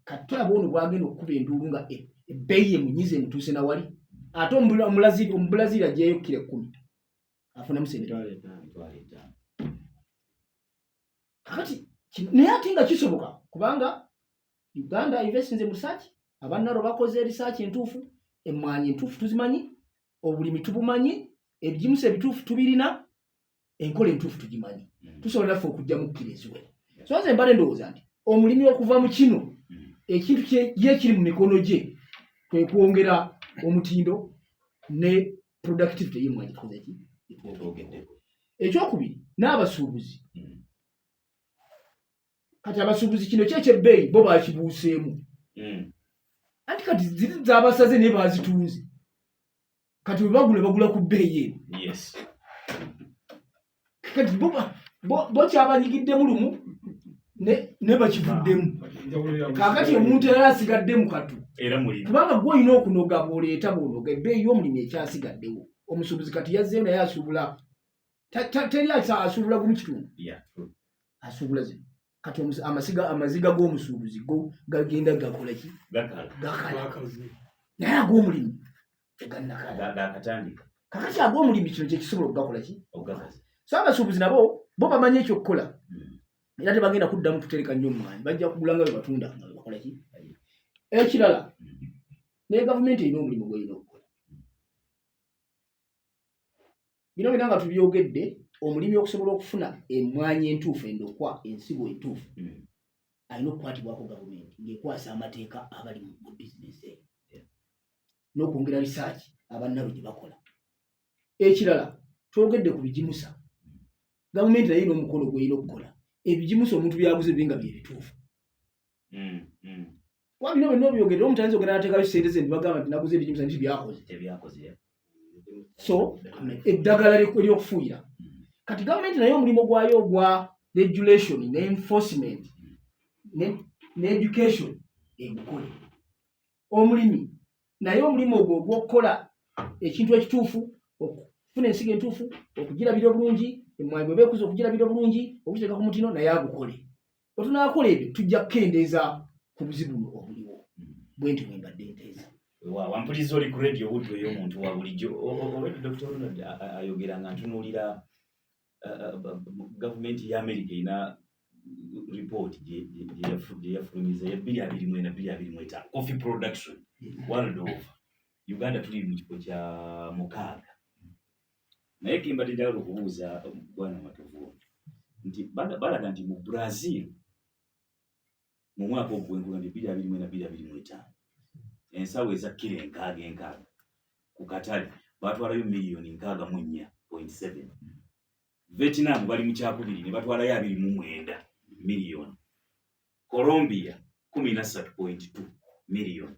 katulaba ono bwagenda okukuba enduulu nga e, ebbeeyi yemunyiza emutuuse nawali ate omubulaziiri ajeyo kira ekkumi afunamu sente kakati naye ate nga kisoboka kubanga uganda investinze mu risaaki abannaro bakoze erisaaki entuufu emmwanyi entuufu tuzimanyi obulimi tubumanyi ebigimusa ebituufu tubirina enkola entuufu tugimanyi mm. tusobola naffe okujja mukkira eziwe so nze mbale ndowooza nti omulimi okuva mu kino mm. ekintu ye kiri mu mikono gye kwe kwongera omutindo ne productivity yemwanyi tukozeki ekyokubiri n'abasuubuzi mm. kati abasuubuzi kino kyekyebbeeyi bo bakibuuseemu anti kati ziri zabasaze naye bazitunze kati webagula bagula ku bbeeyi eno yes kati bo bo bo kyabanyigiddemu lumu ne ne bakivuddemu kakati omuntu era asigadde mu katu era muli kubanga gwe olina okunoga bwoleeta bwonoga ebbeeyi y'omulimi ekyasigaddewo omusuubuzi kati yazzeyo naye asuubula teri asuubula gumu kitundu asuubula zino kati amasiga amaziga g'omusuubuzi go gagenda gakolaki gakala naye ag'omulimu tegannakalaakatandika kakati ag'omulimu kino kyekisobola okugakolaki so abasuubuzi nabo bo bamanyi ekyokukola hmm. era tebagenda kuddamu kutereka nnyo omwanyi bajja kugula nga bebatunda nga bebakolaki ekirala hmm. naye gavumenti erina omulimu gweyina okukola bino byona nga tubyogedde omulimi okusobola okufuna emwanyi entuufu endokwa ensigo entuufu hmm. alina okukwatibwako gavumenti ngaekwasa amateeka abali mu bizinesi eyo n'okwongera risaaki abannabo gye bakola ekirala twogedde ku bigimusa gavumenti naye n'omukono gweyina okukola ebigimusa omuntu byaguze binga byebituufu mm, mm. kuba bino byonna obyogere omuntu ayinza ogenda natekayo sente ze nibagamba nti naguze ebijimusa nti byakoze tebyakoze so eddagala eryokufuuyira mm. kati gavumenti naye omulimu gwayo ogwa regulation ne enforcement ne education egukole omulimi naye omulimu ogwo ogwokukola ekintu ekituufu okufuna ensigo entuufu okugirabira obulungi emwanyi bweba ekuza okugirabira obulungi okugiteeka ku mutino naye agukole bwe tunaakola ebyo tujja kukendeeza ku buzibu buno obuliwo hmm. bwe nti bwe mbadde nteeza wampuliriza oli ku radio obudde oyo omuntu wa bulijjo obwedde dr ronald ayogera nga ntunuulira gavumenti ya amerika erina ripooti gyeyafulumiza ya bbiri abiri mwena bbiri abiri mweta coffee production hmm. world over uganda tuli mu kifo kya mukaaga naye kembadde njagala okubuuza bwana matovu nti balaga nti mu brazil mu mwaka ogwenkula nti biri abiri mwena biri abiri mwetaano ensawo ezakkira enkaaga enkaaga ku katale batwalayo miliyoni nkaaga mu nnya point seven vietnam bali mu kyakubiri ne batwalayo abiri mu mwenda miliyoni colombia kumi na ssatu point two miliyoni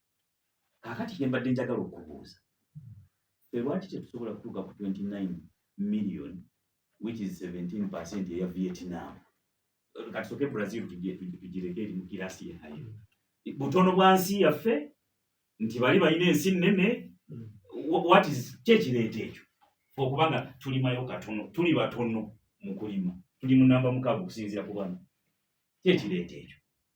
kakati kyembadde njagala okubuuza fe lwaki tetusobola kutuuka ku 29 million which is 17 percent eya vietnam katusoke brazil tugireke eri mu kirasi yayo butono bwa nsi yaffe nti bali balina ensi nnene mm. what is kyekireeta ekyo okubanga tulimayo katono tuli batono mu kulima tuli mu namba mukaaga okusinziira ku bano kyekireeta ekyo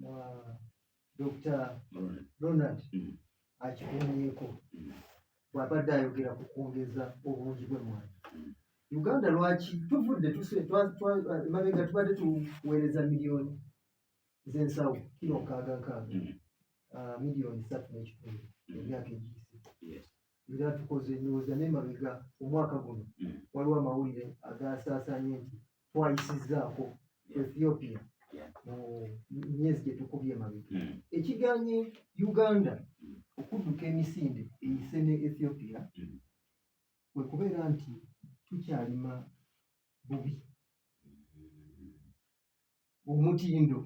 na Dr. Ronald mm. akikumyeko mm. bw'abadde ayogera ku kwongeza obungi bw'emmwanyi mm. Uganda lwaki tuvudde emabega tubadde tuweereza miliyoni z'ensawo kiro nkaaga nkaaga ah, miliyoni satu n'ekitundu emyaka egiyise era tukoze ndowooza n'emabega omwaka guno waliwo amawulire agaasaasaanye nti twayisizzaako ethiopia mu myezi gye tukubye emabega hmm. ekiganye uganda hmm. okudduka emisinde eyise ne ethiopia hmm. kwe kubeera nti tukyalima bubi omutindo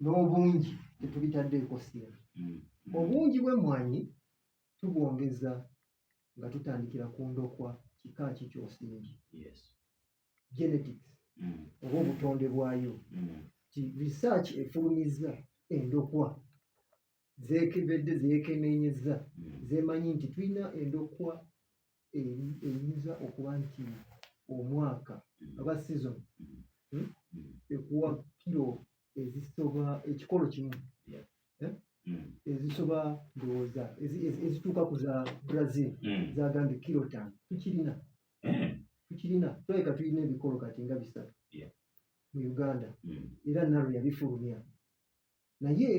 n'obungi tetubitaddeeko sira obungi bw'emmwanyi tubwongeza nga tutandikira ku ndokwa kika ki kyosingi genetics mm. oba obutonde bwayo mm. ti research efulumizza endokwa zekebedde zekenenyeza mm. zemanyi nti tulina endokwa eyinza okuba nti omwaka aba season hmm, ekuwa kiro ezisoba ekikolo kimu eh? mm. ezisoba ndowooza ezituuka ku za brazil mm. zagambye kilotan tukirina eh. tukirina tulabika tulina ebikolo kati nga bisatu mu uganda mm. era nalo yabifulumya naye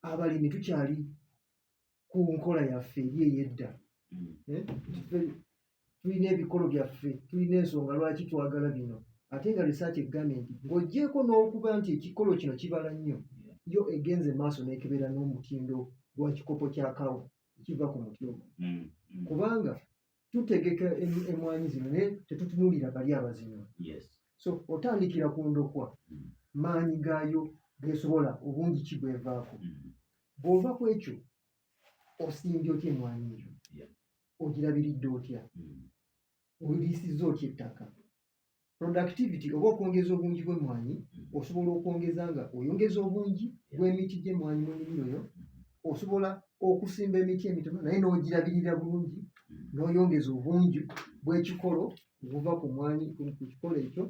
abalimi tukyali ku nkola yaffe eri eyedda mm. eh, tulina ebikolo byaffe tulina ensonga lwaki twagala bino ate nga research egambye nti ng'ogyeko n'okuba nti ekikolo kino kibala nnyo yo egenze maaso n'ekebeera n'omutindo gwa kikopo kya kawa ekiva ku muti omu mm, mm. kubanga tutegeka emwanyi zino naye tetutunulira bali abazino so otandikira ku ndokwa mm. maanyi gaayo gesobola obungi ki bwevaako mm. bwova ku ekyo osimbye otya emwanyi eyo ogirabiridde otya mm. oliisiza otya ettaka productivity oba okwongeza obungi bw'emmwanyi osobola okwongeza nga oyongeza obungi bw'emiti gy'emmwanyi mu nnimiro yo osobola okusimba emiti emitono naye n'ogirabirira bulungi n'oyongeza obungi bw'ekikolo obuva ku mwanyi ku kikolo ekyo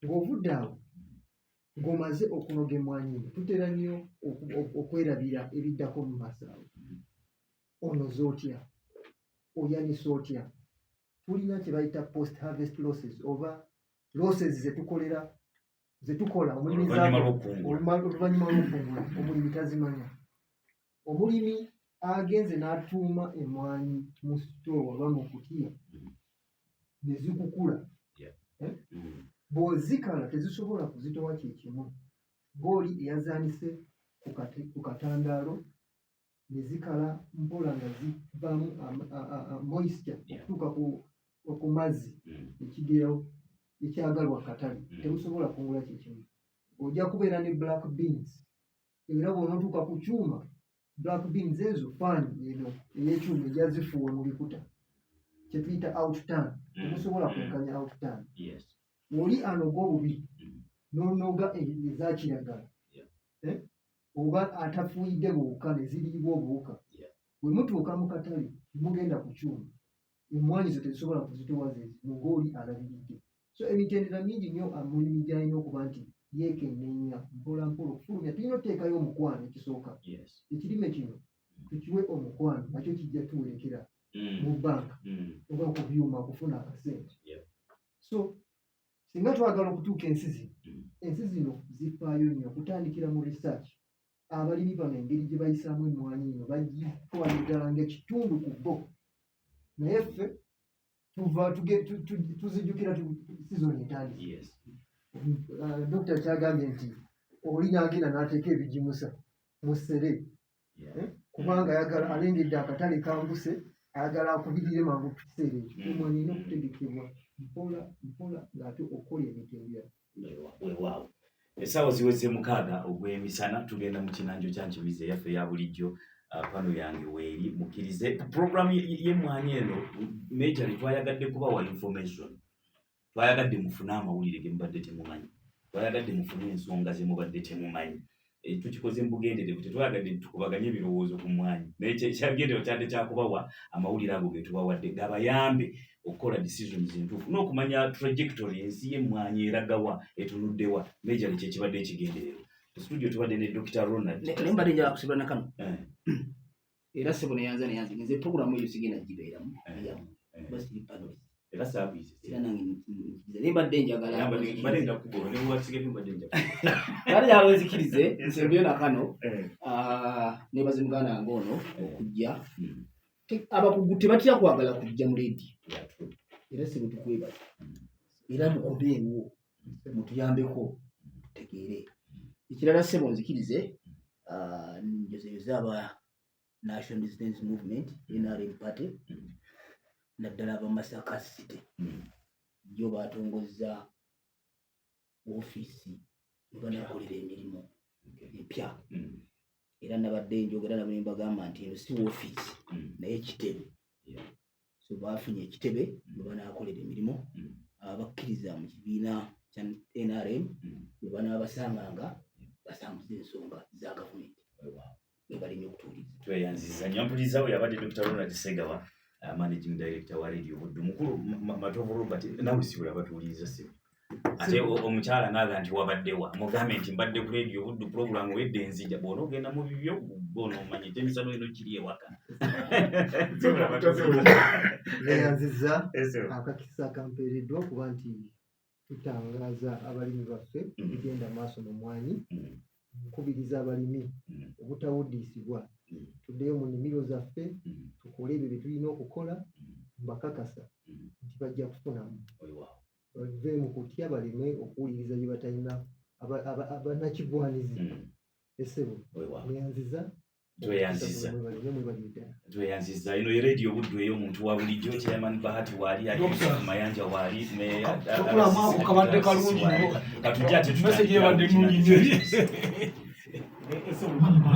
ng'ovudde awo ng'omaze okunoga emmwanyi eno tutera nnyo oku- oku- okwerabira ebiddako mu maaso awo onoza otya oyanisa otya tulina kye bayita post harvest losses oba losses ze tukolera ze tukola omulimi Oluvannyuma lw'okukungula. oluma- oluvannyuma lw'okukungula omulimi tazimanya omulimi agenze n'atuuma emmwanyi mu sitoowa oba mu kutiya ne zikukula Mm. bw'ozikala tezisobola kuzitowa kye kimu ng'oli eyazaanise ku kati- ku katandaalo ne zikala mpola nga zivaamu moisture okutuuka ku mazzi hmm. ekigerawo ekyagalwa katale hmm. temusobola kungula kyekimu ojja kubeera ne black beans era bwonotuuka ku kyuma black beans ezo fan eno eyekyuma ejazifuuwa mu bikuta kyetuyita outtan hmm. temusobola kwenkanya outtan oli anoga obubi nonoga ezakiragala eh? oba atafuuyidde buwuka ne ziriibwa obuwuka bwe mutuuka mu katale mugenda ku kyuma emmwanyi zo tezisobola kuzitowa zezimu ng'oli alabiridde so emitendera mingi nnyo amulimi ah, gy'alina okuba nti yeekenneenya mpola mpola okufulumya tulina oteekayo omukwano ekisooka ekirime kino tukiwe omukwano nakyo kijja tuwerekera mm. mu banka mm. oba ku byuma okufuna akasente so singa twagala okutuuka ensi zino mm. ensi zino zifaayo nnyo okutandikira mu research abalimi bano engeri gye bayisaamu emmwanyi eno bagitwala ddala ngaekitundu ku bo naye ffe tuva tuzijukira sizoni etandiki uh, dokita kyagambye nti oli nagenda n'ateeka ebigimusa mu ssere eh, kubanga ayagala alengedde akatale kambuse ayagala akubirire mangu ku kiseera ekyo mm. omwana erina okutegekebwa mpola mpola ng'ate okukola emitendera wewaawo essaawa ziweze mukaaga ogw'emisana tugenda mu kinanjo kya nkimizi eyaffe eya bulijjo ah, pano yange weeri mukkirize puroguramu y'emmwanyi eno major twayagaddekubawa information twayagadde mufune amawulire ge mubadde temumanyi twayagadde mufune ensonga ze mubadde temumanyi eh, tukikoze mu bugenderevu tetwayagadde tukubaganye ebirowoozo ku mwanyi naye kyagendero kyadde kyakubawa amawulire ago ge tubawadde gabayambe okukola decisions entuufu n'okumanya trajectory ensi y'emmwanyi eragawa etunuddewa mejali kyekibadde ekigenderero studio tubadde ne dr ronald naye mbadde njakusibula nakano eh. era sebo neyanza neyanza nze programu eyo sigenda gibeeramu yamu basi pano era service era nange nkiza ne badde njagala badde badde ndakugoro ne watsike ne badde njagala bali ya wezi kirize nsembyo na kano eh. ah ne bazi mugana ngono eh. okujja hmm. abakugute batya kwagala kujja mu lady era sebo tukweba hmm. era mukobeewo mutuyambeko tutegeere ekirala sebo nzikirize ah, njozeyoze aba national resistance movement nrm party naddala abamasaka city jo batongozza ofiisi webanakolera emirimu epya era nabadde njogera nabo nembagamba nti eno si wofiisi mm. naye kitebe so bafunye ekitebe mm. webanakolera emirimu mm. abakkiriza mu kibiina kya nrm webanabasanganga basanguza ensonga za gavumenti nebalinye okutuuliza tweyanziza nyo mpulizawo yabadde dr ronald segawa uh, managing director wa radio buddu mukulu matovu robert nawe sibula batuuliza sibu ate omukyala naaga nti wabaddewa mugambe nti mbadde ku radio buddu pulogulamu wedde enzija bwona ogenda mu bibyo bona omanya ekyemisano eno kiri ewaka neyanziza akakisa kampeereddwa okuba nti tutangaza abalimi baffe mm. bigenda maaso mu mwanyi mm. nkubiriza abalimi mm. obutawuddiisibwa tuddeyo mu nimiro zaffe tukole ebyo bye tulina okukola mbakakasa nti bajja kufunamu bave mu kutya baleme okuwuliriza bye batalina abanakigwanizi hmm. esebo neyanziza tweyanziza ino eredio buddu eyo omuntu wa bulijjo chairman bahati waali alimayanja waali meyakabadde kalungi katujja tetuaa